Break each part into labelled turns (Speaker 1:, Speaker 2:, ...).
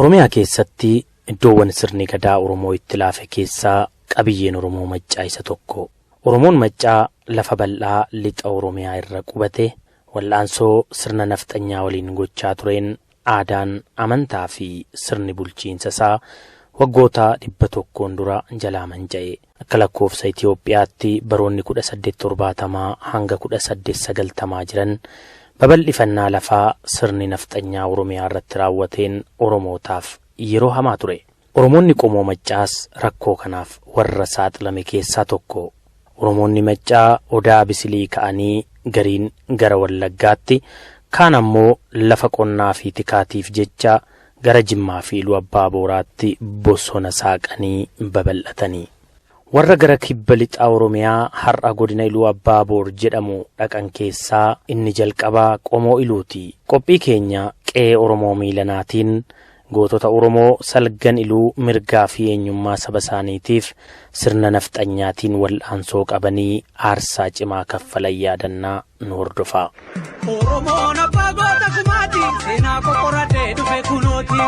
Speaker 1: Oromiyaa keessatti iddoowwan sirni gadaa Oromoo itti laafe keessaa qabiyyeen Oromoo Maccaa isa tokko. Oromoon Maccaa lafa bal'aa lixa Oromiyaa irra qubate wal'aansoo sirna nafxanyaa waliin gochaa tureen Aadaan, amantaa fi sirni bulchiinsa isaa waggoota 100n dura jalaa manca'e. Akka lakkoofsa Itoophiyaatti baroonni 1870 hanga 1890 jiran babal'ifannaa lafaa sirni nafxanyaa Oromiyaa irratti raawwateen Oromootaaf yeroo hamaa ture. Oromoonni qomoo Maccaas rakkoo kanaaf warra saaxilame keessaa tokko. Oromoonni Maccaa Odaa Abisilii ka'anii gariin gara Wallaggaatti, kaan ammoo lafa qonnaafi tikaatiif jecha gara Jimmaafi Iluu Abbaa Booraatti bosona saaqanii babal'atani. Warra gara Kibba Lixa Oromiyaa har'a Godina Iluu Abbaa Boor jedhamu dhaqan keessaa inni jalqabaa qomoo Iluuti. Qophii keenya Qe'ee Oromoo Miilanaatiin Gootota Oromoo salgan iluu mirgaa fi eenyummaa saba isaaniitiif sirna nafxanyaatiin wal'aansoo qabanii aarsaa cimaa kaffalan yaadanna. Nu hordofaa. Oromoon abbaa goota kumaati seenaa qoqqoratee dhufe kunooti.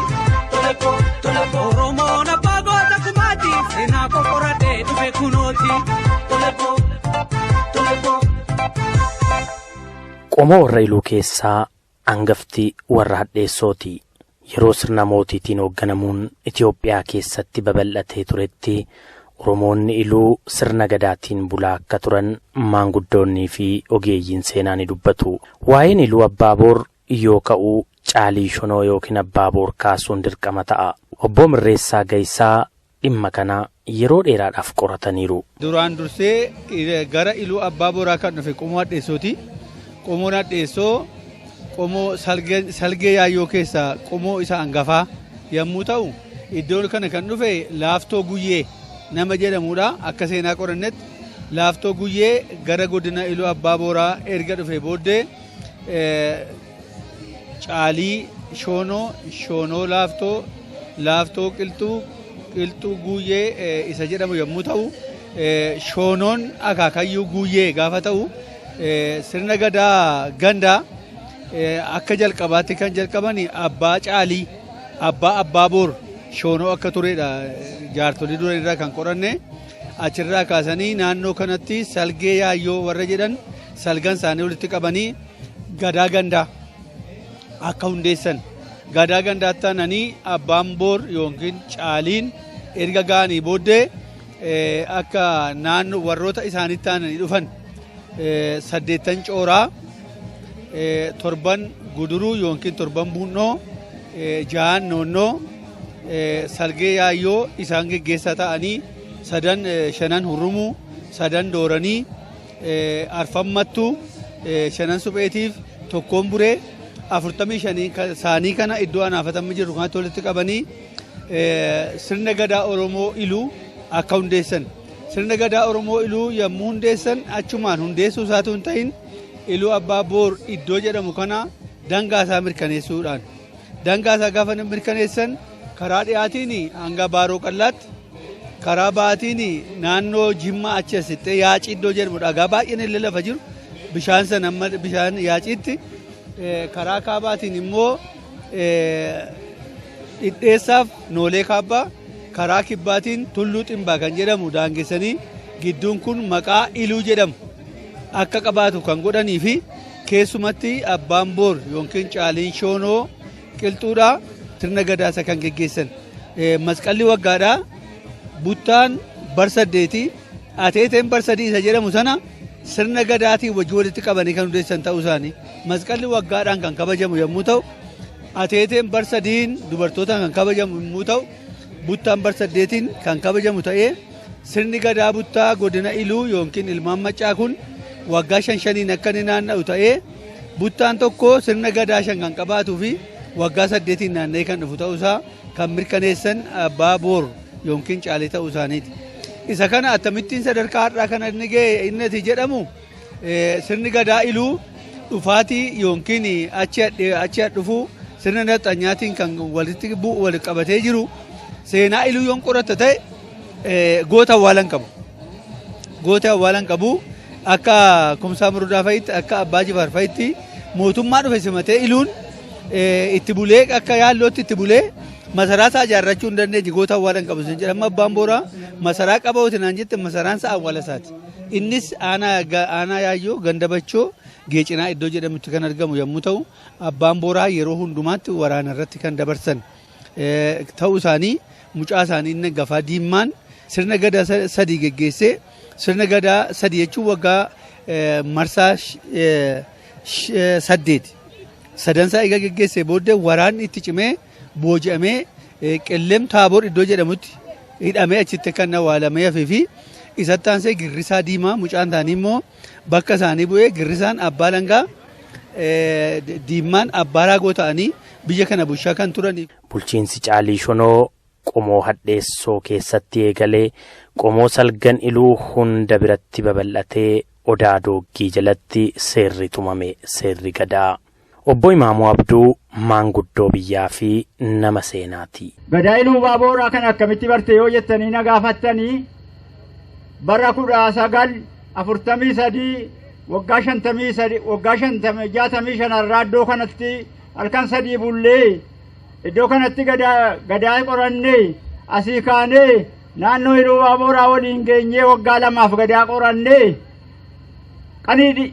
Speaker 1: Oromoon abbaa goota kumaati seenaa qoqqoratee dhufe kunooti. Qomoo warra iluu keessaa Angafti warra hadheessooti. Yeroo sirna mootiitiin hoogganamuun Itoophiyaa keessatti babal'atee turetti Oromoonni Iluu sirna Gadaatiin bulaa akka turan maanguddoonniifi ogeeyyiin seenaa ni dubbatu. Waa'een Iluu Abbaa Boor yoo ka'u Caalii Shonoo ykn Abbaa Boor kaasuun dirqama ta'a. Obboo Mirreessaa Gayisaa dhimma kana yeroo dheeraadhaaf qorataniiru. Duraan dursee
Speaker 2: gara Iluu Abbaa Booraa kan dhufe Qomoo Hadheessooti. Qomoon Hadheessoo qomoo salgee yaayyoo keessaa qomoo isa hangafaa yommuu ta'u iddoon kana kan dhufe laaftoo guyyee nama jedhamudha akka seenaa qorannetti laaftoo guyyee gara godina iluu abbaa booraa erga dhufe booddee Caalii, Shoonoo, Shoonoo Laaftoo, Laaftoo Qilxuu, Qilxuu Guuyyee isa jedhamu yommuu ta'u, Shoonoon akaakayyuu Guuyyee gaafa ta'u, sirna gadaa gandaa akka jalqabaatti kan jalqaban abbaa Caalii, abbaa abbaa boor Shoonoo akka turedha jaartolii duran irraa kan qoranne. Achirraa kaasanii naannoo kanatti salgee yaayyoo warra jedhan salgan isaanii walitti qabanii Gadaa gandaa akka hundeessan gadaa gandaa tananii abbaan boor yookiin caaliin erga ga'anii booddee akka naannoo warroota isaanitti aananii dhufan saddeettan cooraa torban guduruu yookiin torban buunnoo jahan noonnoo salgee yaayyoo isaan geggeessaa ta'anii sadan shanan hurrumuu sadan dooranii arfan mattuu shanan supheetiif tokkoon buree afurtamii shanii saanii kana iddoo anaafatamni jiru kanatti walitti qabanii sirna gadaa Oromoo iluu akka hundeessan. Sirna gadaa Oromoo iluu yommuu hundeessan achumaan hundeessuu isaatu hin ta'in iluu abbaa boor iddoo jedhamu kana dangaa isaa mirkaneessuudhaan. Dangaa isaa gaafa mirkaneessan karaa dhiyaatiin hanga baaroo qallaatti Karaa baatiin naannoo Jimmaa achi as siqxee yaacii iddoo jedhamu dhagaa baay'een illee lafa jiru bishaan sana amma bishaan yaaciitti eh, karaa kaabaatiin immoo eh, dhidheessaaf noolee kaabbaa karaa kibbaatiin tulluu ximbaa kan jedhamu daangessanii gidduun kun maqaa iluu jedhamu akka qabaatu kan godhanii fi keessumatti abbaan boor yookiin caaliin shoonoo Qilxuudha sirna gadaasa kan geggeessan. Masqalli waggaadha. Buttaan bar saddeeti. Ateeteen bar sadii isa jedhamu sana sirna gadaatiin wajjin walitti qabanii kan hundeessan ta'uu isaanii. Masqalli waggaadhaan kan kabajamu yommuu ta'u, ateeteen bar sadiin dubartootaan kan kabajamu yommuu ta'u, buttaan bar saddeetiin kan kabajamu ta'ee sirni gadaa buttaa godina Iluu yookiin ilmaan maccaa kun waggaa shan shaniin akka inni naanna'u ta'ee Buttaan tokko sirna gadaa shan kan qabaatuu fi waggaa saddeetiin naanna'ee kan dhufu ta'uusaa kan mirkaneessan abbaa boor yookiin caalee ta'uu isaaniiti. Isa kana akkamittiin sadarkaa har'aa kana inni ga'e inni ati jedhamu sirni gadaa iluu dhufaatii yookiin achi dhufuu sirna naxxanyaatiin kan walitti bu'u walitti qabatee jiru seenaa iluu yoon qoratta ta'e Goota awwaalan qabu. Goota awwaalan qabu akka kumsaa murudaa fa'itti akka abbaa jifaar fa'itti mootummaa dhufe simatee iluun itti bulee akka yaallootti itti bulee masaraa isaa ijaarrachuu hin dandeenye goota awwaalan qabu isin jedhama abbaan booraa masaraa qaba oti naan jette masaraan isaa awwaala isaati. Innis aanaa yaayyoo gandabachoo geecinaa iddoo jedhamutti kan argamu yommuu ta'u abbaan booraa yeroo hundumaatti waraana irratti kan dabarsan. ta'uu isaanii mucaa isaanii inni gafaa diimmaan sirna gadaa sadii geggeessee sirna gadaa sadii jechuun waggaa marsaa saddeeti. Sadansaa egaa geggeessee booddee waraanni itti cimee booji'amee qellem taaboor iddoo jedhamutti hidhamee achitti kan awwaalamee hafee fi isatti aansee girrisaa diimaa mucaan isaanii immoo bakka isaanii bu'ee girrisaan abbaa langaa diimmaan abbaa raagoo ta'anii biyya kana bulchaa kan turanii. Bulchiinsi Caalii
Speaker 1: Shonoo qomoo hadheessoo keessatti eegalee qomoo salgan iluu hunda biratti babal'atee odaa dooggii jalatti seerri tumame seerri gadaa. Obbo Imaamuu Abduu maanguddoo biyyaa fi nama seenaati. Gadaa Iluubaabooraa
Speaker 3: kana akkamitti barte yoo jettanii na gaafattani, bara 1943 waggaa 53 waggaa 50 65 irraa iddoo kanatti halkan sadii bullee iddoo kanatti gadaa gadaa qoranne asii kaanee naannoo Iluubaabooraa waliin geenyee waggaa lamaaf gadaa qoranne qanii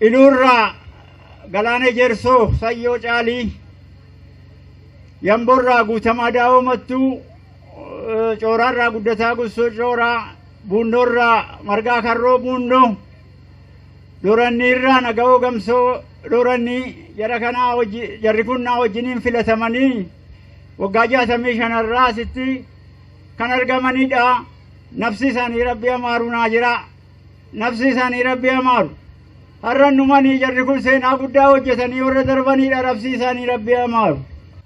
Speaker 3: Iluu irraa Galaanee Jeersoo Sayyoo Caalii, Yamboo irraa Guutamaa Daawoo Mattuu, Cooraa irraa Guddataa Gussoo Cooraa, Buunnoo irraa Margaa Karroo Buunnoo, Doorannii irraa Nagawoo Gamsoo Doorannii jara kanaa wajji jarri kun naa wajjiniin filatamanii waggaa jaatamii shanarraa asitti kan argamanidha. Nafsi isaanii rabbi amaaru naa jira. nafsi isaanii rabbi amaaru har'an dhumanii jarri kun seenaa guddaa hojjetanii warra darbaniidha nafsi isaanii rabbi amaaru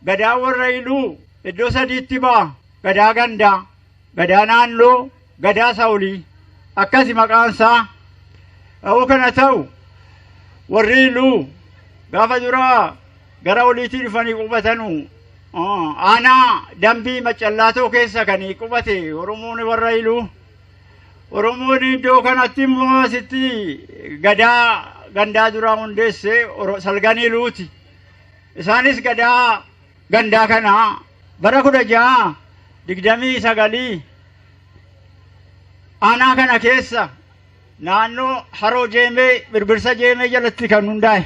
Speaker 3: gadaa warra iluu iddoo sadiitti ba'a gadaa gandaa gadaa naannoo gadaa saawulii akkasi maqaan isaa ta'uu kana ta'u warri iluu gaafa duraa gara oliitii dhufanii qubatanu aanaa dambii macallaatoo keessa kan qubate oromoon warra iluu Oromoon iddoo kanatti immoo asitti gadaa gandaa duraa hundeesse Oro- salganii luuti. Isaanis gadaa gandaa kana bara kudha ja'a digdamii sagalii aanaa kana keessa naannoo haroo jeemee birbirsa jeemee jalatti kan hundaa'e.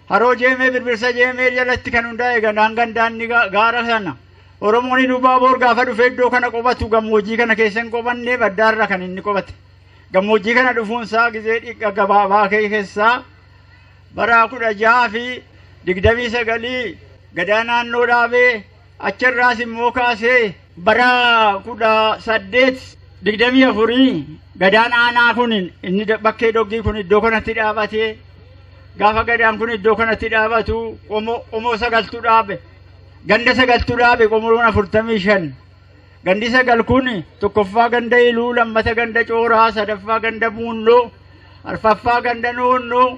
Speaker 3: Haroo Jeemee Birbirsa Jeemee jalatti kan hundaa'e gandaan gandaan ni gaara sana. Oromoon Ilubaaboor gaafa dhufe iddoo kana qubatu gammoojjii kana keessa hin qubanne baddaarra kan inni qubate. Gammoojjii kana dhufuunsaa gizee dhiqqa gabaabaa keessaa bara kudha jaha fi digdamii sagalii gadaa naannoo dhaabee Achirraas immoo kaasee bara 1824 gadaan aanaa kun inni bakkee doggii kun iddoo kanatti dhaabatee gaafa gadaan kun iddoo kanatti dhaabatu qomoo sagaltu dhaabe ganda sagaltu dhaabe qomoon afurtamii shan gandi sagal kun tokkoffaa ganda iluu lammata ganda cooraa sadaffaa ganda muunnoo arfaffaa ganda noonnoo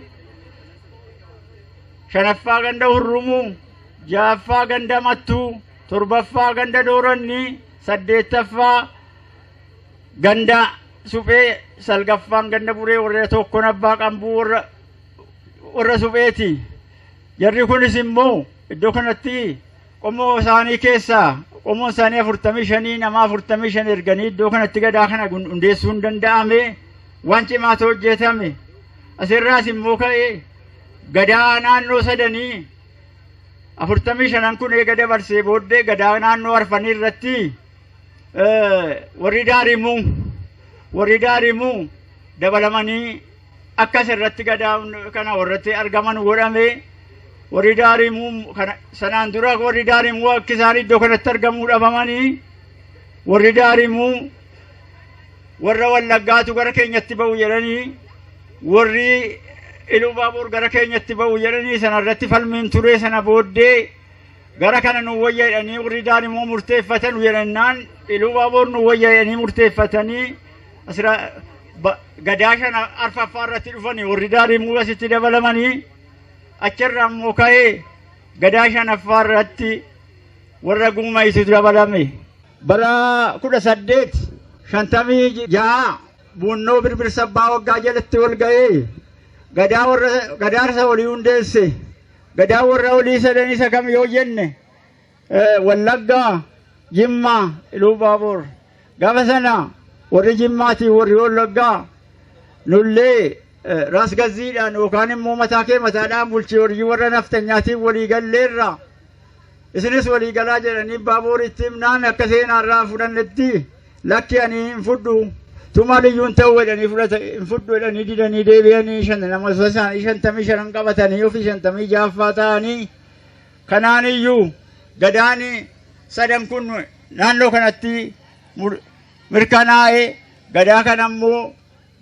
Speaker 3: shanaffaa ganda hurrumuu ja'affaa ganda mattuu torbaffaa ganda doorannii saddeettaffaa ganda suphee salgaffaan ganda buree warra tokkon abbaa qambuu warra warra supheeti jarri kunis immoo iddoo kanatti qomoo isaanii keessaa qomoon isaanii afurtamii shanii nama afurtamii shan erganii iddoo kanatti gadaa kana gun- hundeessuun danda'ame waan cimaatu hojjetame asirraas immoo ka'ee gadaa naannoo sadanii afurtamii shanan kun eega dabarsee booddee gadaa naannoo arfanii irratti warri daarimuu warri daarimuu dabalamanii akkas irratti gadaa kana warratti argaman godhame warri daarimuu sanaan dura warri daarimuu akka isaan iddoo kanatti argamuu dhabamanii warri daarimuu Warra Wallaggaatu gara keenyatti ba'u jedhanii warri Ilubaaboor gara keenyatti ba'u jedhanii sana irratti falmiin turee sana booddee gara kana nu wayya jedhanii warri daan immoo murteeffatan jedhannaan Ilubaaboor nu wayya jedhanii murteeffatanii asira gadaa shana arfaffaa irratti dhufanii warri daan immoo asitti dabalamanii achirraa immoo ka'ee gadaa shanaffaa irratti warra guumaysitu dabalame. Bara 1856 Buunnoo Birbirsa Abbaa Waggaa jalatti wal ga'ee gadaa warra gadaarsa olii hundeesse. Gadaa warra olii sadan isa kam yoo jenne eh, Wallaggaa, Jimmaa, Iluu Baaboor. Gaafa sana warri Jimmaatii warri Wallaggaa nullee eh, raas gazziidhaan yookaan immoo mataa kee mataadhaan bulchii hojii warra nafxanyaatiin walii galleerra. Isinis walii galaa jedhanii Baabooritti himnaan akka seenaa irraa hin fudhannetti lakki ani hin fudhu tumaa liyyuu hin ta'u jedhanii fudhata hin fudhu jedhanii didanii deebi'anii shan nama isaanii shantamii shanan qabatanii ofii shantamii jaaffaa ta'anii kanaan iyyuu gadaani sadan kun naannoo kanatti mirkanaa'ee gadaa kana immoo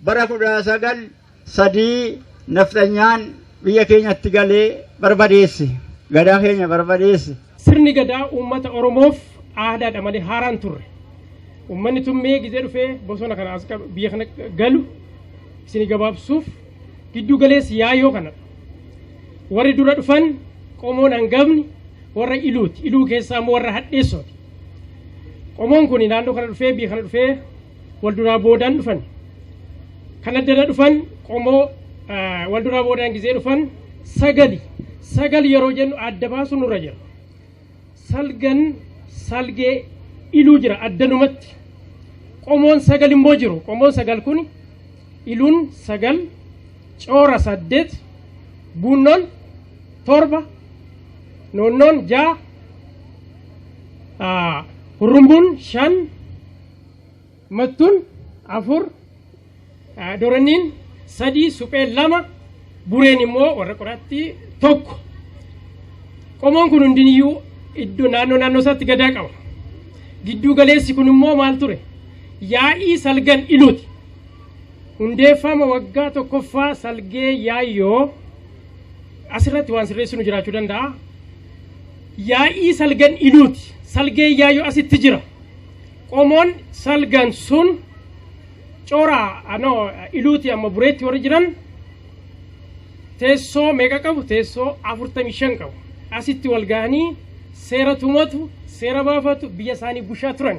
Speaker 3: Bara 1903 nafxanyaan biyya keenyatti galee barbadeesse. Gadaa keenya barbadeesse. Sirni Gadaa
Speaker 4: uummata Oromoof aadaadha malee haaraa hin turre. Uummanni Tummee gizee dhufee bosona kana as qabu biyya kana galu isin gabaabsuuf gidduu galeessi yaayoo kana. Warri dura dhufan qomoon hangafni warra Iluuti. Iluu keessaa immoo warra Hadheessooti. Qomoon kun naannoo kana dhufee biyya kana dhufee wal duraa boodaan dhufan. Kan addana dhufan qomoo wal duraa boodaan gizee dhufan sagali. Sagal yeroo jennu adda baasu nurra jira. Salgan salgee iluu jira addanumatti. Qomoon sagal immoo jiru. Qomoon sagal kun iluun sagal coora saddeet buunnoon torba noonnoon ja'a hurrumbuun shan Mattuun afur, Doranniin sadii, Supheen lama, Bureen immoo warra qoraattii tokko. Qomoon kun hundiniyyuu iddoo naannoo naannoo isaatti gadaa qaba. Gidduu galeessi kun immoo maal ture? Yaa'ii salgan iluuti. Hundeeffama waggaa tokkoffaa salgee yaayyoo asirratti waan sirreessinu jiraachuu danda'a. Yaa'ii salgan iluuti. Salgee yaayyoo asitti jira. Qomoon salgan sun cora ano iluuti amma bureetti warri jiran teessoo meeqa qabu teessoo 45 qabu asitti wal gahanii seera tumatu seera baafatu biyya isaanii bushaa turan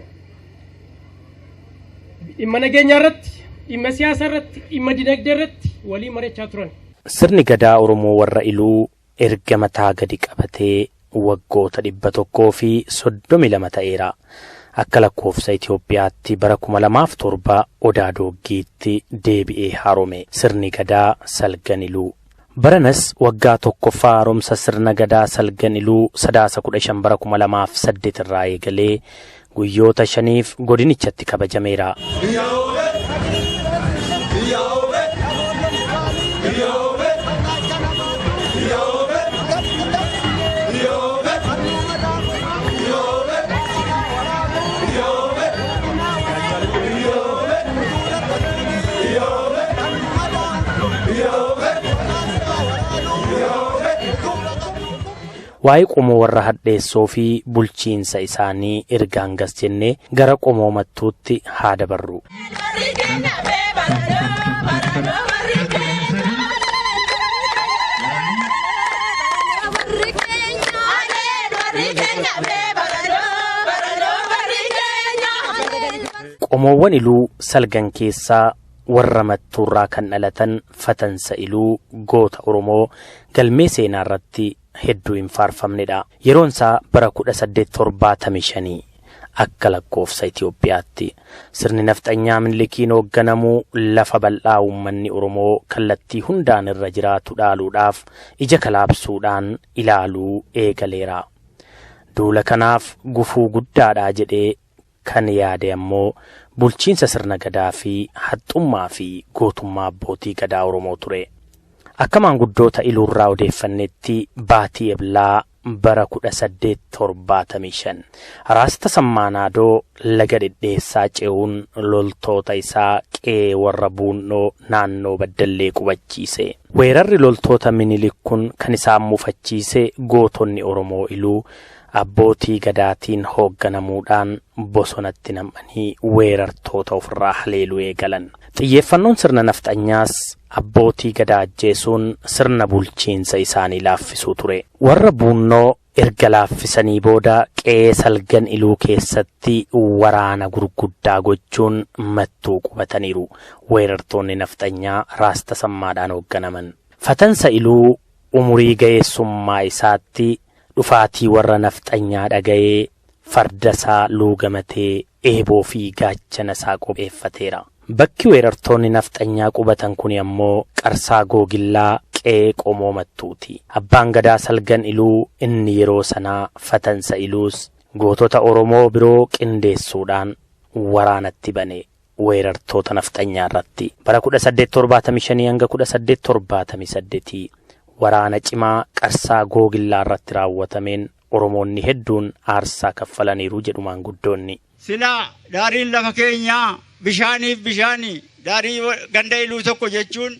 Speaker 4: dhimma nageenyaa irratti dhimma siyaasa irratti dhimma dinagdee irratti walii marachaa turan. Sirni Gadaa
Speaker 1: Oromoo warra Iluu erga mataa gadi qabatee waggoota 132 ta'eera. Akka lakkoofsa Itoophiyaatti bara 2007 Odaa Dooggiitti deebi'ee haarome sirni gadaa Salgan Iluu. Baranas waggaa tokkoffaa haaromsa sirna gadaa Salgan Iluu Sadaasa 15 bara 2008 irraa eegalee guyyoota shaniif godinichatti kabajameera. Waa'ee qomoo warra hadheessoo fi bulchiinsa isaanii erga hangas jennee gara qomoo mattuutti haa dabarru. Qomoowwan iluu salgan keessaa Warra Mattuurraa kan dhalatan Fatan Sa'iluu goota Oromoo galmee seenaarratti hedduu hin faarfamnedha. Yeroonsaa bara 1875 akka lakkoofsa Itoophiyaatti. Sirni nafxanyaa Minilikiin hoogganamu lafa bal'aa uummanni Oromoo kallattii hundaan irra jiraatu dhaaluudhaaf ija kalaabsuudhaan ilaaluu eegaleera. Duula kanaaf gufuu guddaadha jedhee Kan yaade ammoo bulchiinsa sirna Gadaa fi haxxummaa fi gootummaa abbootii Gadaa Oromoo ture. Akka maanguddoota Iluurraa odeeffannetti baatii Eblaa bara 1875 Raas Tasammaa Naadoo laga Dhedheessaa ce'uun loltoota isaa qe'ee warra Buunnoo naannoo Baddallee qubachiise. Weerarri loltoota Minilik kun kan isaan mufachiise gootonni Oromoo Iluu Abbootii Gadaatiin hoogganamuudhaan bosonatti nam'anii weerartoota ofirraa haleeluu eegalan. Xiyyeeffannoon sirna Nafxanyaas Abbootii Gadaa ajjeesuun sirna bulchiinsa isaanii laaffisuu ture. Warra Buunnoo erga laaffisanii booda qe'ee Salgan Iluu keessatti waraana gurguddaa gochuun Mattuu qubataniiru. Weerartoonni Nafxanyaa Raas Tasammaadhaan hoogganaman. Fatansa Iluu umurii ga'eessummaa isaatti Dhufaatii warra nafxanyaa dhagayee farda isaa luugamatee eeboo fi gaachana isaa qopheeffateera. Bakki weerartoonni nafxanyaa qubatan kuni ammoo Qarsaa Googillaa qe'ee Qomoo Mattuuti. Abbaan Gadaa Salgan Iluu inni yeroo sanaa Fatansa Iluus gootota Oromoo biroo qindeessuudhaan waraanatti bane. weerartoota nafxanyaa irratti bara 1875-1878 waraana cimaa qarsaa googillaa irratti raawwatameen Oromoonni hedduun aarsaa kaffalaniiru jedhu maanguddoonni. Silaa
Speaker 3: daariin lafa keenyaa bishaaniif bishaani. Daarii ganda iluu tokko jechuun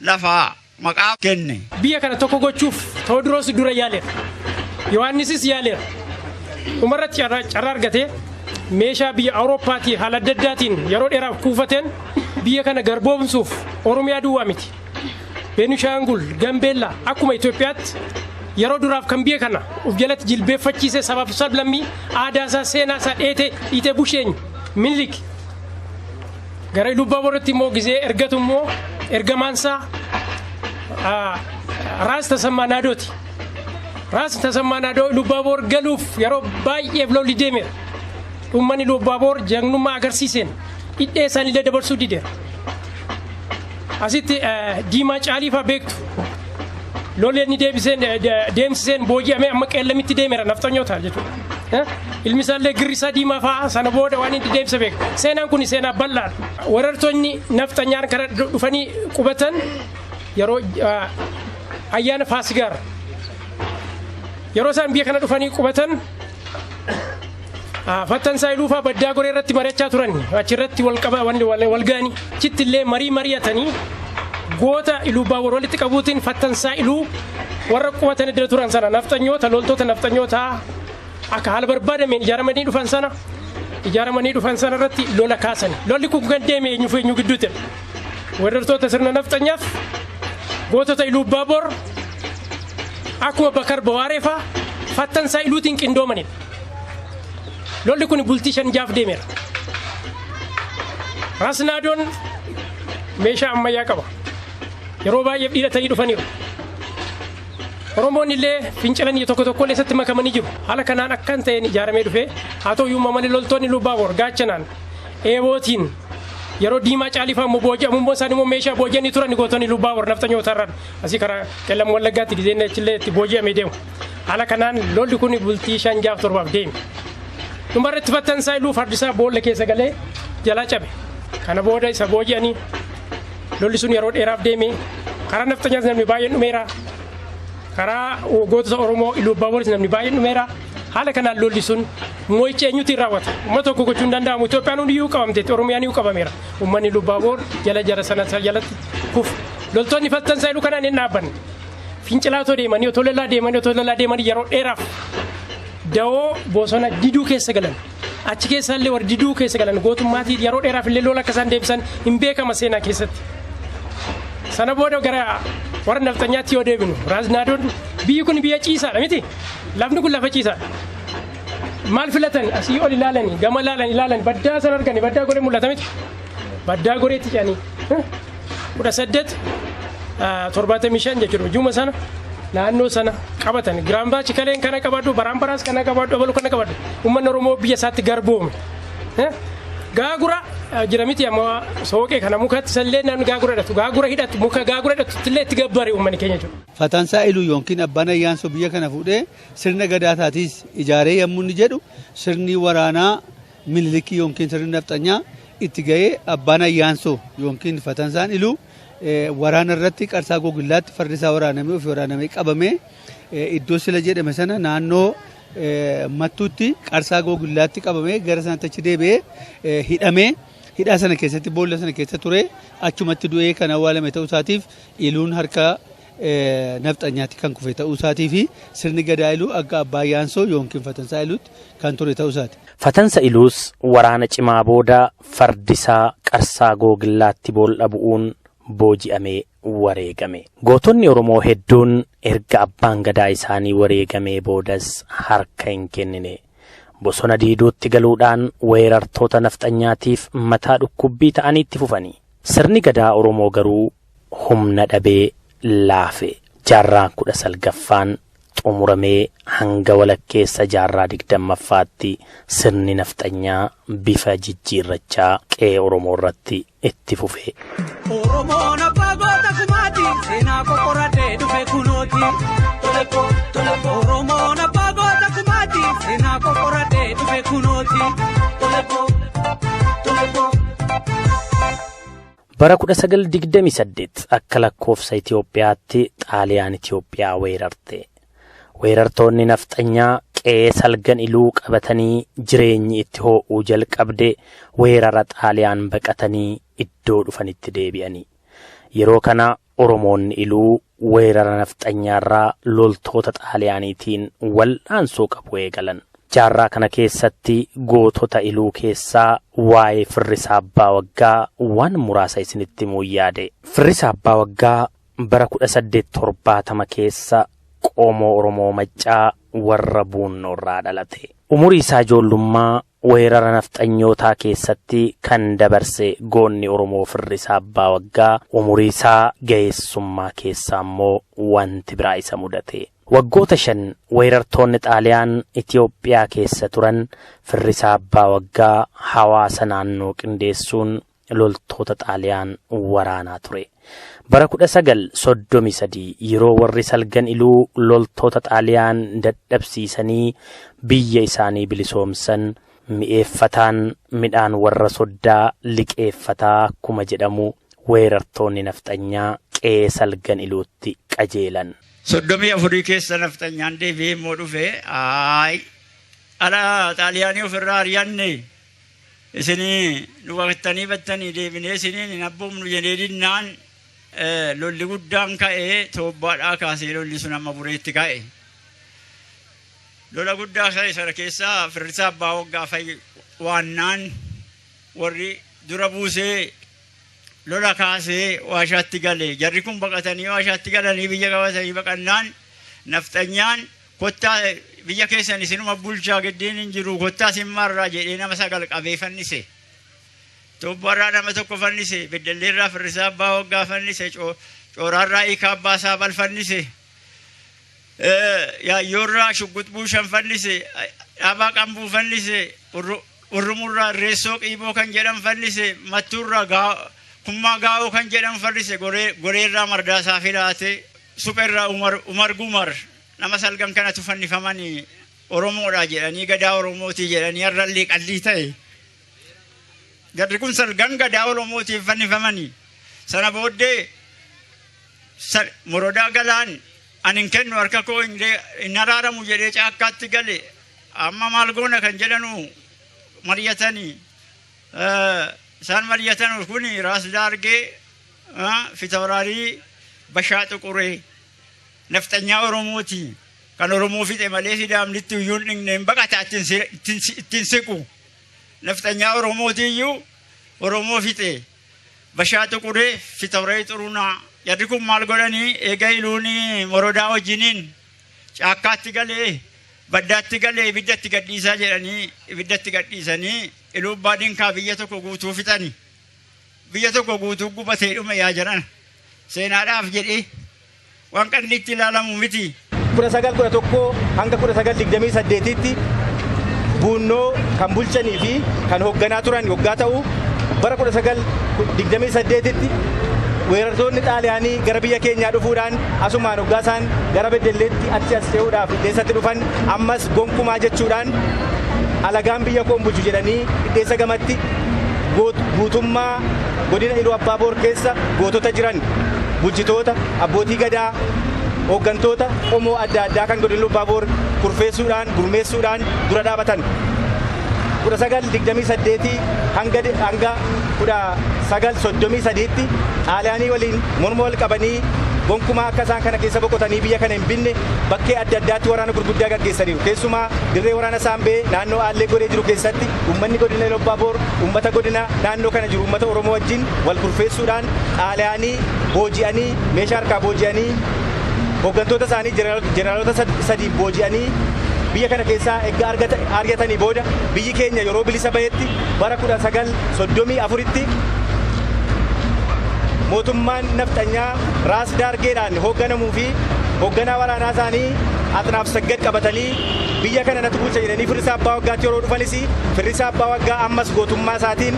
Speaker 3: lafaa maqaa kenne. Biyya kana tokko gochuuf
Speaker 4: Tewodiroos dura yaaleera. Yohaannisis yaaleera. Dhumarratti carraa carraa argatee meeshaa biyya Awurooppaatii haala adda addaatiin yeroo dheeraaf kuufateen biyya kana garboomsuuf Oromiyaa duwwaa miti. Beenishaangul, Gambeellaa akkuma Itoophiyaatti yeroo duraaf kan biyya kana of jalatti jilbeeffachiise sabaaf sablammii aadaasaa, seenaasaa dheetee dhiitee bushe eenyu? Minilik. Gara Ilubbaaboritti immoo gizee ergatu immoo ergamaansaa Raas Tasammaa Naadooti. Raas Tasammaa Naadoo Ilubbaabor galuuf yeroo baay'eef lolli deemeera. Uummanni Ilubbaabor jagnummaa agarsiiseen dhidhee isaaniillee dabarsuu dideera. Asitti Diimaa Caalii faa beektu. Lolli inni deebiseen deemsiseen booji'amee amma qeellamitti deemera nafxanyoota jechuudha. Ilmi isaallee girrisaa diimaa fa'aa sana booda waan inni deemsa beeku. Seenaan kun seenaa bal'aadha. Warartoonni nafxanyaan kana dhufanii qubatan yeroo ayyaana faasigaara. Yeroo isaan biyya kana dhufanii qubatan Ah, Fattan Saayiluufaa baddaa goree irratti mari'achaa turan achirratti wal qaba wal wal- wal ga'anii achitti illee marii mari'atanii goota iluubbaa wal walitti qabuutiin Fattan Saayiluu warra qubatan iddoo turan sana nafxanyoota loltoota nafxanyootaa akka haala barbaadameen ijaaramanii dhufan sana ijaaramanii dhufan sana irratti lola kaasan lolli kun kan deeme eenyuuf eenyu gidduutti weerartoota sirna nafxanyaaf gootota Iluu Baaboor akkuma Bakar Bawaaree faa fattan isaa Iluutiin qindoomanidha. Lolli kun bultii shan jaaf deemeera. Raasnaadoon meeshaa ammayyaa qaba. Yeroo baay'ee hidhatanii dhufaniiru. Oromoonni illee fincilan tokko tokko illee isatti makamanii jiru. Haala kanaan akkan ta'een ijaaramee dhufe haa ta'u iyyuu malee loltoonni Iluu Baaboor gaachanaan eebootiin yeroo diimaa caalifaa immoo booji'amu immoo isaan immoo meeshaa booji'anii turan gootonni lubbaa warra nafxanyoota irraan asii karaa qellam wallaggaatti gizeen achillee itti booji'amee deemu. Haala kanaan lolli kun bultii shan jaaf torbaaf deeme. Dhumarratti battansaa iluu fardisaa boolla keessa galee jalaa cabe. Kana booda isa booji'anii lolli sun yeroo dheeraaf deeme. Karaa nafxanyaas namni baay'een dhumeera. Karaa gootota Oromoo iluu abbaa boolis namni baay'een dhumeera. Haala kanaan lolli sun mo'ichi eenyutiin raawwata? Uummata tokko gochuu hin danda'amu. Itoophiyaan hundiyyuu qabamteetti. Oromiyaan iyyuu qabameera. Uummanni Lubbaaboor jala jara sana isa jalatti kufu. Loltoonni faltan saayiluu kanaan hin dhaabbanne. Fincilaa otoo deemanii, otoo lolaa deemanii, otoo lolaa deemanii yeroo dheeraaf dawoo bosona diduu keessa galan. Achi keessaa illee warri diduu keessa galan gootummaatiin yeroo dheeraaf illee lola akka isaan deebisan hin beekama seenaa keessatti. Sana booda gara warra nafxanyaatti yoo deebinu Raaznaadoon biyyi kun biyya ciisaadha miti. Lafni kun lafa ciisaadha. Maal filatan asii ol ilaalanii gama ilaalan ilaalan baddaa san argani baddaa goree mul'ata miti. Baddaa goreetti jedhanii. 18 75 jechuudha hujuma sana naannoo sana qabatan giraam baachi kaleen kana qabadhu baraan baraas kana qabadhu abalu kana qabadhu uummanni oromoo biyya isaatti garboome Eh? gaagura eh, jira miti amma sooqee kana mukatti sallee namni gaagura hidhatu gaagura hidhatu muka gaagura hidhatu illee itti gabbare uummanni keenya jechuudha. Fatansaa Iluu yookiin
Speaker 2: Abbaan Ayyaansoo biyya kana fuudhee sirna gadaataatiis ijaaree yommuu inni jedhu sirni waraanaa Minilikii yookiin sirni nafxanyaa itti ga'ee abbaan ayyaansoo yookiin fatansaan iluu waraana irratti qarsaa gogillaatti fardi isaa waraanamee ofii waraanamee qabamee iddoo sila jedhame sana naannoo mattuutti qarsaa gogillaatti qabamee gara sanatti achi deebi'ee hidhamee hidhaa sana keessatti boolla sana keessa ture achumatti du'ee kan awwaalame ta'uu isaatiif iluun harka nafxanyaatti kan kufe ta'uu isaatii fi sirni gadaa iluu akka abbaa yaansoo yookiin fatansaa iluutti kan ture ta'uu isaati. Fatansa iluus
Speaker 1: waraana cimaa booda fardisaa qarsaa googillaatti bool'a bu'uun booji'amee wareegame. Gootonni Oromoo hedduun erga abbaan gadaa isaanii wareegamee boodas harka hin kennine. Bosona diiduutti galuudhaan weerartoota nafxanyaatiif mataa dhukkubbii ta'anii itti fufani. Sirni gadaa Oromoo garuu humna dhabee laafe. Jaarraa kudha salgaffaan xumuramee hanga walakkeessa jaarraa digdammaffaatti sirni nafxanyaa bifa jijjiirrachaa qe'ee Oromoo irratti itti fufe. Oromoon
Speaker 5: abbaa goota kumaati seenaa qoqqoratee dhufe kunooti. Oromoon abbaa goota kumaati seenaa qoqqoratee dhufe kunooti.
Speaker 1: Bara 1928 akka lakkoofsa Itoophiyaatti Xaaliyaan Itoophiyaa weerarte. Weerartoonni nafxanyaa qe'ee salgan iluu qabatanii jireenyi itti hoo'uu jalqabde weerara Xaaliyaan baqatanii iddoo dhufanitti deebi'ani. Yeroo kana Oromoonni Iluu weerara Nafxanyaarraa loltoota Xaaliyaaniitiin wal'aansoo qabu eegalan. Jaarraa kana keessatti gootota Iluu keessaa waa'ee Firrisaa Abbaa Waggaa waan muraasa isinitti himuun yaade. Firrisaa Abbaa Waggaa bara 1870 keessa qomoo Oromoo Maccaa warra Buunnoorraa dhalate. Umurii isaa ijoollummaa Weerara nafxanyootaa keessatti kan dabarse goonni Oromoo Firrisaa Abbaa Waggaa umurii isaa gaheessummaa keessa ammoo wanti biraa isa mudate. Waggoota shan weerartoonni Xaaliyaan Itoophiyaa keessa turan Firrisaa Abbaa Waggaa hawaasa naannoo qindeessuun loltoota Xaaliyaan waraanaa ture. Bara 1933 yeroo warri salgan iluu loltoota Xaaliyaan dadhabsiisanii biyya isaanii bilisoomsan mi'eeffataan midhaan warra soddaa liqeeffataa akkuma jedhamu weerartoonni nafxanyaa qe'ee salgan iluutti qajeelan. Soddomii afurii
Speaker 3: keessa nafxanyaan deebi'ee immoo dhufe ayi ala Xaaliyaanii ofirraa ari'anne Isinii nu baqattanii battanii deebinee isiniin hin abboomnu jedhee dinnaan lolli guddaan ka'ee toobbaadhaa kaasee lolli sun amma bureetti ka'e. Lola guddaa ka'e sana keessaa firrisaa abbaa waggaa fa'i waannaan warri dura buusee lola kaasee waashaatti gale. Jarri kun baqatanii waashaatti galanii biyya qabatanii baqannaan nafxanyaan Kottaa biyya keessan isinuma bulchaa giddiin hin jiru kottaa sin marraa jedhee nama sagal qabee fannise. Tubbarraa nama tokko fannise, beddelleerraa firrisaa abbaa waggaa fannise, cooraarraa hiikaa abbaa saabal fannise. Yaayyoorraa shugguxbuu buushan fannise, dhaabaa qambuu fannise, urrumurraa irreessoo qiiboo kan jedhan fannise, mattuurraa kummaa gaa'oo kan jedhan fannise, goreerraa mardaasaa filaatee. Supherraa Umar Umar Gumar nama salgan kanatu fannifamani Oromoodha jedhanii gadaa Oromootii jedhanii har'allee qallii ta'e. Jarri kun salgan gadaa Oromootiin fannifamani. Sana booddee sal- morodaa galaan ani hin kennu harka koo hin dee- hin araaramu jedhee caakkaatti gale. Amma maal goona kan jedhanu mari'atanii. Eh, Isaan mari'atan kun raas daargee Fitawaraarii Bashaa Xuquree nafxanyaa Oromooti. Kan Oromoo fixe malee Sidaamnitti iyyuu hin dhigneen baqataa ittiin siqu. Nafxanyaa Oromooti iyyuu Oromoo fixe. Bashaa Xuquree Fitawaraarii Xurunaa. Jarri kun maal godhanii eega iluun morodaa wajjiniin caakkaatti galee baddaatti galee ibiddatti gadhiisaa jedhanii ibiddatti gadhiisanii iluu abbaa dinkaa biyya tokko guutuu fixani. Biyya tokko guutuu gubatee dhume yaa jaran. Seenaadhaaf jedhee waan qanni itti ilaalamu miti. 1911-1928tti
Speaker 6: Buunnoo kan bulchanii fi kan hoogganaa turan yoggaa ta'u, bara 1928tti weerartoonni Xaaliyaanii gara biyya keenyaa dhufuudhaan asumaan hoggaa isaan gara Beddelleetti achi as ce'uudhaaf Dhidheessatti dhufan ammas gonkumaa jechuudhaan alagaan biyya koo hin bulchu jedhanii Dhidheessa gamatti guutummaa godina Iluu Abbaa Boor keessa gootota jiran, bulchitoota, abbootii gadaa, hooggantoota qomoo adda addaa kan godina Iluu Abbaa Boor kurfeessuudhaan, gurmeessuudhaan dura dhaabatan. 1928 hanga 1933tti Xaaliyaanii waliin morma wal qabanii gonkumaa akka isaan kana keessa boqotanii biyya kana hin binne bakkee adda addaatti waraana gurguddaa gaggeessaniiru. Keessumaa dirree waraana Saambee naannoo Aallee Goree jiru keessatti Uummanni Godina Ilubbaaboor uummata godina naannoo kana jiru uummata Oromoo wajjin wal kurfeessuudhaan xaalayaanii booji'anii meeshaa harkaa booji'anii hoggantoota isaanii jeneraalota sadiin booji'anii biyya kana keessaa erga ari'atanii booda biyyi keenya yeroo bilisa bahetti bara 1934tti mootummaan nafxanyaa Raas Daargeedhaan hoogganamuu fi hoogganaa waraanaa isaanii Axnaaf Saggad qabatanii Biyya kana natu bulcha jedhanii firrisaa abbaa waggaatti yeroo dhufanis firrisaa abbaa waggaa ammas gootummaa isaatiin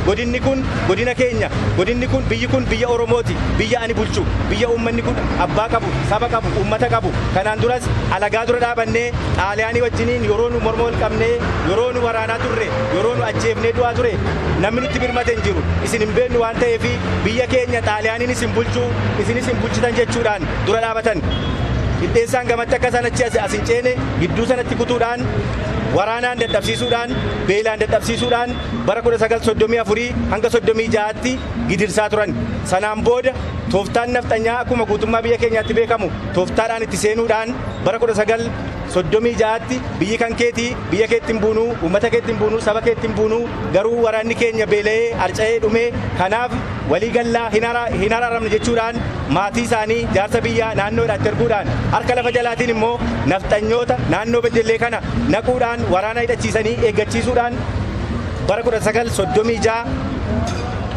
Speaker 6: godinni kun godina keenya godinni kun biyyi kun biyya oromooti biyya ani bulchu biyya uummanni kun abbaa qabu saba qabu uummata qabu kanaan duras alagaa dura dhaabannee xaaliyaanii wajjiniin yeroo nu morma wal qabnee yeroo nu waraanaa turre yeroo nu ajjeefnee du'aa ture namni nutti birmate hin jiru isin hin beeknu waan ta'eef biyya keenya xaaliyaaniin isin bulchu isinis hin bulchitan jechuudhaan dura dhaabatan. Dhidheessaan gamatti akka isaan achi as hin ceene gidduu sanatti kutuudhaan waraanaan dadhabsiisuudhaan beelaan dadhabsiisuudhaan bara 1934 hanga 36tti gidirsaa turan. Sanaan booda tooftaan nafxanyaa akkuma guutummaa biyya keenyaatti beekamu tooftaadhaan itti seenuudhaan bara 1936tti biyyi kan keetii biyya keetti hin buunuu uummata keetti hin buunuu saba keetti hin buunuu garuu waraanni keenya beela'ee harca'ee dhumee kanaaf Walii galla, hin araaramnu jechuudhaan maatii isaanii jaarsa biyyaa naannoo hidhaatti erguudhaan harka lafa jalaatiin immoo nafxanyoota naannoo Beddellee kana naquudhaan waraana hidhachiisanii eeggachiisuudhaan bara 1936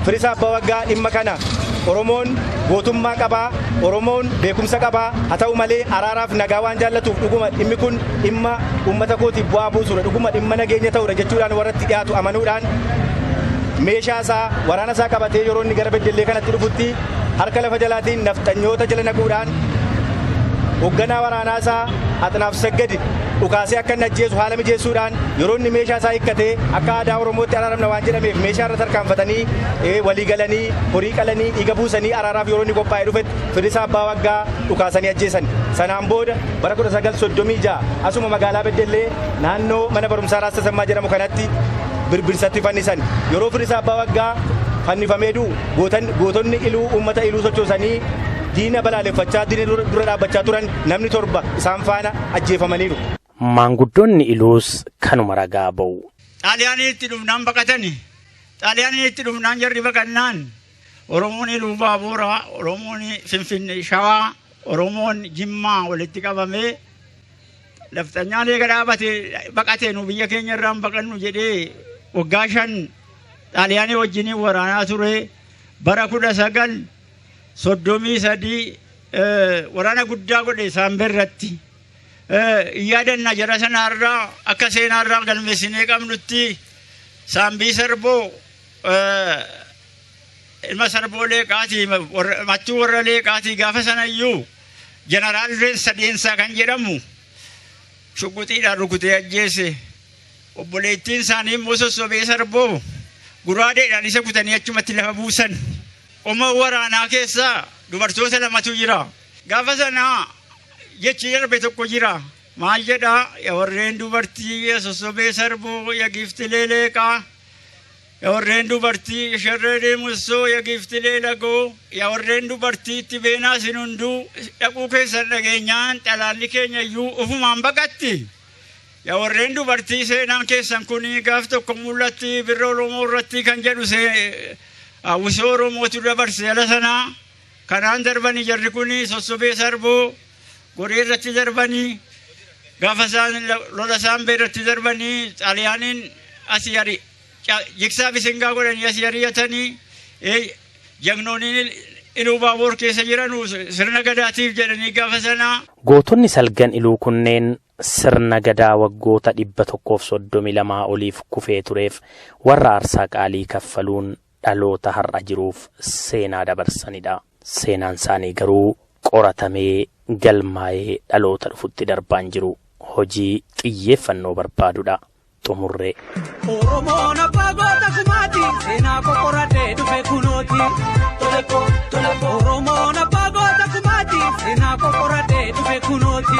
Speaker 6: Firisaa Abbaa Waggaa dhimma kana Oromoon gootummaa qaba, Oromoon beekumsa qaba, haa ta'u malee araaraaf nagaa waan jaallatuuf dhuguma dhimmi kun dhimma uummata kootiif bu'aa buusuudha dhuguma dhimma nageenya ta'uudha jechuudhaan warra itti dhiyaatu amanuudhaan meeshaa isaa waraana isaa qabatee yeroo inni gara beddellee kanatti dhufutti harka lafa jalaatiin nafxanyoota jala naquudhaan hoogganaa waraanaa isaa axinaaf saggadi dhukaasee akka inni ajjeesu haala mijeessuudhaan yeroo inni meeshaa isaa hiikkatee akka aadaa oromootti araaramna waan jedhameef meeshaa irra tarkaanfatanii walii galanii horii qalanii dhiiga buusanii araaraaf yeroo inni qophaa'ee dhufetti Fedhisaa Abbaa Waggaa dhukaasanii ajjeesan. Sanaan booda bara 1936 asuma magaalaa Beddellee naannoo mana barumsaa Raas Tasammaa jedhamu kanatti Birbirsatti fannisan. Yeroo Fedhisaa Abbaa Waggaa fannifamee du'u gootan gootonni Iluu uummata Iluu sochoosanii diina balaaleffachaa diina dura dura dhaabbachaa turan namni torba isaan faana ajjeefamaniiru. Maanguddoonni
Speaker 1: Iluus kanuma ragaa ba'u. Xaaliyaaniitti
Speaker 3: dhufnaan baqatani. Xaaliyaaniitti dhufnaan jarri baqannaan Oromoon Iluu Baabuuraa, Oromoon Finfinnee Shawaa, Oromoon Jimmaa walitti qabamee nafxanyaan eega dhaabatee baqatee nu biyya keenya irraan baqannu jedhee waggaa shan xaaliyaanii wajjiniin waraanaa ture bara kudha sagal soddomii sadii waraana guddaa godhe saambee irratti yaadanna jara sanaarraa akka seenaarraa galmeessinee qabnutti saambii sarboo ilma sarboo leeqaatii mattuu warra leeqaatii gaafa sanayyuu jeneraal reensa deensaa kan jedhamu shugguxiidhaan rukutee ajjeese obboleettiin isaanii immoo sossobee sarboo guraadeedhaan isa kutanii achumatti lafa buusan qoma waraanaa keessaa dubartoota lamatu jira gaafa sanaa jechi darbe tokko jira maal jedhaa ya warreen dubartii ya sossobee sarboo ya giiftilee leeqaa Yaa warreen dubartii sharree deemussoo ya giiftilee lagoo yaa warreen dubartii itti beenaa isin hunduu dhaquu keessan dhageenyaan xalaalli keenya iyyuu ufumaan baqatti. Yaa warreen dubartii seenaan keessan kun gaaf tokko mul'atti birra Oromoo irratti kan jedhu hawwisoo Oromootu dabarse ala sanaa kanaan darbani jarri kun sossobee sarboo godhee irratti darbanii gaafa isaan lola isaan bee irratti darbanii xaaliyaaniin as yari jigsaa bisingaa godhanii as yariyatanii jagnooniin iluu baaboor keessa jiran
Speaker 1: sirna
Speaker 3: gadaatiif jedhanii
Speaker 1: gaafa
Speaker 3: sanaa.
Speaker 1: Gootonni
Speaker 3: salgan iluu
Speaker 1: kunneen sirna gadaa waggoota dhibba tokkoof soddomii lamaa oliif kufee tureef warra aarsaa qaalii kaffaluun dhaloota har'a jiruuf seenaa dabarsanidha. Seenaan isaanii garuu qoratamee galmaa'ee dhaloota dhufutti darbaa hin jiru. Hojii xiyyeeffannoo barbaadudha. Xumurree. Oromoon
Speaker 5: abbaa goota kumaati seenaa qoqqoradhee dhufe kunooti. Oromoon abbaa goota kumaati seenaa qoqqoradhee dhufe kunooti.